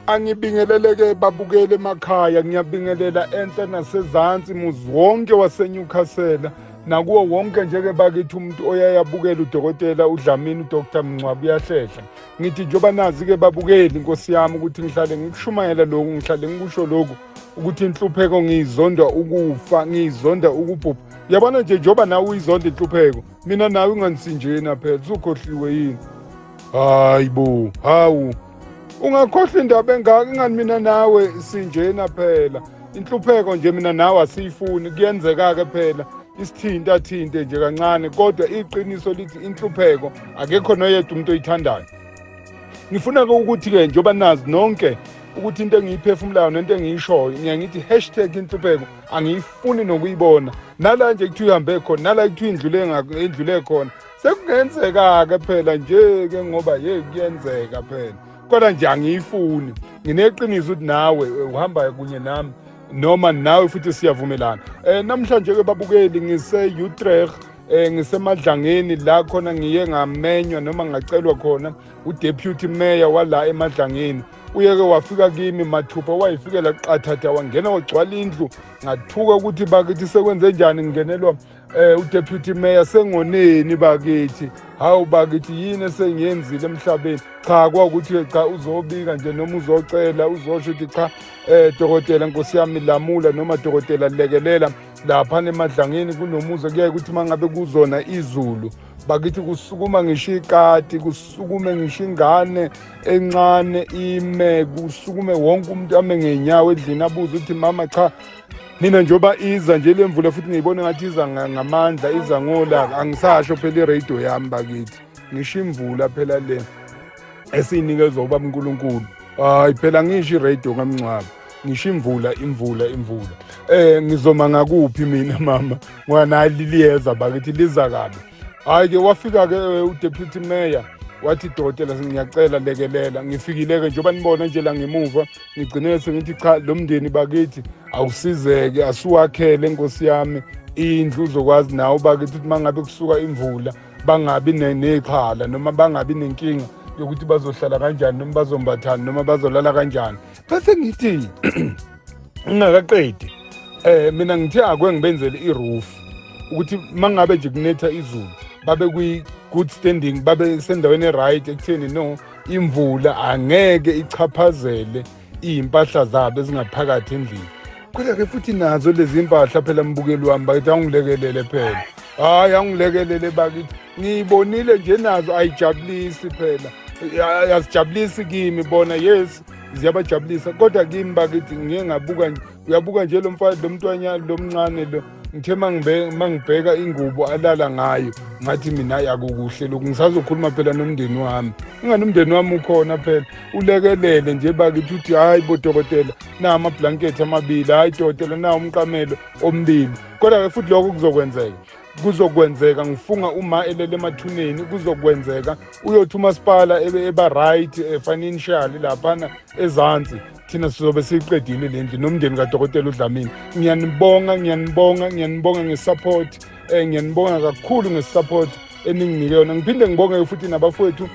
Angibingeleleke babukele emakhaya ngiyabingelela enhla nasezansi muzi wonke waseNewcastle nakuwo wonke njeke bakithi umuntu oyayabukela udokotela uDlamini uDr Mncwabu uyahlehla ngithi njengoba nazi-ke babukeli inkosi yami ukuthi ngihlale ngikushumayela lokhu ngihlale ngikusho lokhu ukuthi inhlupheko ngiyizonda ukufa ngiyizonda ukubhubha yabona nje njengoba nawe uyizonda inhlupheko mina nawe unganisinjena phela usukhohliwe yini hayi bo hawu ungakhohlwa indaba engaka ingani mina nawe sinjena phela inhlupheko nje mina nawe asiyifuni kuyenzeka-ke phela isithinta athinte nje kancane kodwa iqiniso lithi inhlupheko akekho noyedwa umuntu oyithandayo ngifuna-ke ukuthi-ke njengoba nazi nonke ukuthi into engiyiphefumulayo nento engiyishoyo ngiye ngithi hashtag inhlupheko angiyifuni nokuyibona nala nje kuthiwa ihambe khona nala kuthiwa indlule indlule khona sekungenzeka-ke phela nje-ke ngoba ye kuyenzeka phela kodwa nje angiyifuni ngineqiniso ukuthi nawe eh, uhambayo kunye nami noma nawe futhi siyavumelana um namhlanje-ke babukeli ngise-utrech eh ngisemadlangeni la khona ngiye ngamenywa noma ngacelwa khona udeputy mayor wala emadlangeni uyeke wafika kimi mathupha wayifikela qathatha wangena wagcwala indlu ngathuka ukuthi bakithi sekwenze njani ngingenelwa Eh uDeputy Mayor sengoneni bakithi hawu bakithi yini esengiyenzile emhlabeni cha kwakuthi cha uzobika nje noma uzocela uzosho ukuthi cha eh dokotela nkosi yami lamula noma dokotela lekelela lapha nemadlangeni kunomuzi kuyaye ukuthi mangabe kuzona izulu bakithi kusukuma ngisho ikati kusukume ngisho ingane encane ime kusukume wonke umuntu ame ngenyawo edlini abuze ukuthi mama cha mina njengoba iza nje le mvula futhi ngiyibona ngathi iza ngamandla iza ngolaka angisasho phela iradio yami bakithi ngisho imvula phela le esiyinikezwa ubaba unkulunkulu hayi phela ngisho iradio ngamngcwaba ngisho imvula imvula imvula um ngizoma ngakuphi mina mama ngoba nali liyeza bakithi liza kabi hhayi ke wafika-ke eh, udeputy mayor wathi dokotela ngiyacela lekelela ngifikile-ke njengoba nibona nje la ngemuva ngigcine sengithi cha lo mndeni bakithi awusizeke asiwakhele nkosi yami indlu uzokwazi nawe bakithi ukuthi uma ngabe kusuka imvula bangabi ney'khala noma bangabi nenkinga yokuthi bazohlala kanjani noma bazombathani noma bazolala kanjani bese ngithi ngingakaqedi eh mina ngithe akwe ngibenzele iroof ukuthi mangabe nje kunetha izulu babe kwi good standing babe sendaweni eright ekutheni no imvula angeke ichaphazele izimpahla zabo ezingaphakathi endlini kodwa ke futhi nazo lezi mpahla phela mbukeli wami bakithi angilekelele phela hayi angilekelele bakithi ngiyibonile nje nazo ayijabulisi phela yazijabulisi kimi bona yes ziyabajabulisa kodwa kimi bakithi ngiye ngabuka uyabuka nje lo mfana lo mntwanyana lo mncane lo ngithe mangibheka ingubo alala ngayo ngathi mina yakukuhle lokhu ngisazokhuluma phela nomndeni wami ingani umndeni wami ukhona phela ulekelele nje bakithi uthi hhayi bodokotela na amablankethi amabili hhayi dokotela na umqamelo omibili kodwa-ke futhi lokho kuzokwenzeka kuzokwenzeka ngifunga uma elele emathuneni kuzokwenzeka uyothi umasipala eba right eh, financially laphana ezansi thina sizobe siyiqedile le ndlu nomndeni kadokotela udlamini ngiyanibonga ngiyanibonga ngiyanibonga ngesupport um eh, ngiyanibonga kakhulu ngesupport eninginike yona ngiphinde ngibonge futhi nabafowethu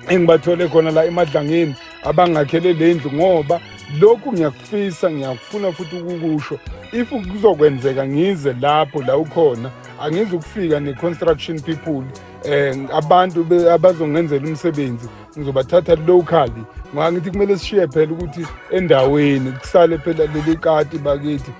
engibathole khona la emadlangeni abangakhele le ndlu ngoba lokhu ngiyakufisa ngiyakufuna futhi ukukusho if kuzokwenzeka ngize lapho la ukhona angizi ukufika ne-construction people um abantu abazongenzela umsebenzi ngizobathatha locally ngoba ngithi kumele sishiye phela ukuthi endaweni kusale phela leli kati bakithi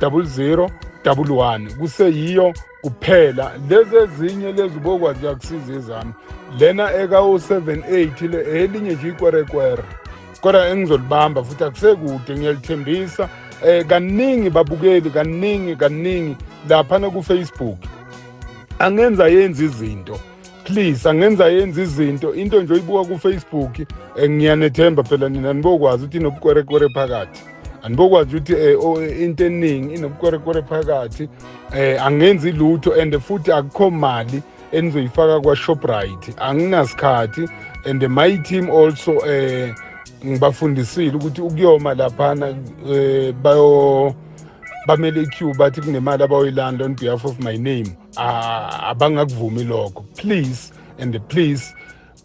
00 11 kuseyiyo kuphela lezi ezinye lezi bokwazi kuyakusiza ezami lena eka-078 le elinye nje ikwerekwere kodwa engizolibamba futhi akusekude ngiyalithembisa um kaningi babukeli kaningi kaningi laphana kufacebook angenza yenza izinto please angenza yenza izinto into nje oyibuka kufacebook eh, ngiyanethemba phela nina anibokwazi ukuthi inobukwerekwere phakathi andibokwazi ukuthi eh, oh, eh, into eningi inobukwerekwere phakathi um angenzi lutho and futhi akukho mali enizoyifaka kwa-shoprite anginasikhathi and my team also um ngibafundisile ukuthi ukuyoma laphana um bayo bamele iq bathi kunemali abayoyilanda on behalf of my name ah, abangakuvumi lokho please and please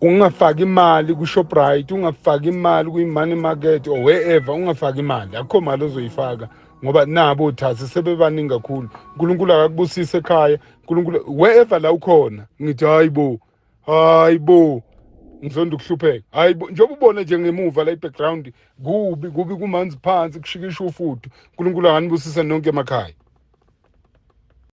ungafaki imali ku-shoprite ungafaki imali kwi-money market or wherever ungafaki imali akukho mali ozoyifaka ngoba nabo othathi sebebaningi kakhulu unkulunkulu akakubusise ekhaya unkulunkulu wherever la ukhona ngithi hayi bo hayi bo ngizonda ukuhlupheka hayi bo njengoba ubone nje ngemuva la i-background kubi kubi kumanzi phansi kushikisha ufudu unkulunkulu akanibusise nonke emakhaya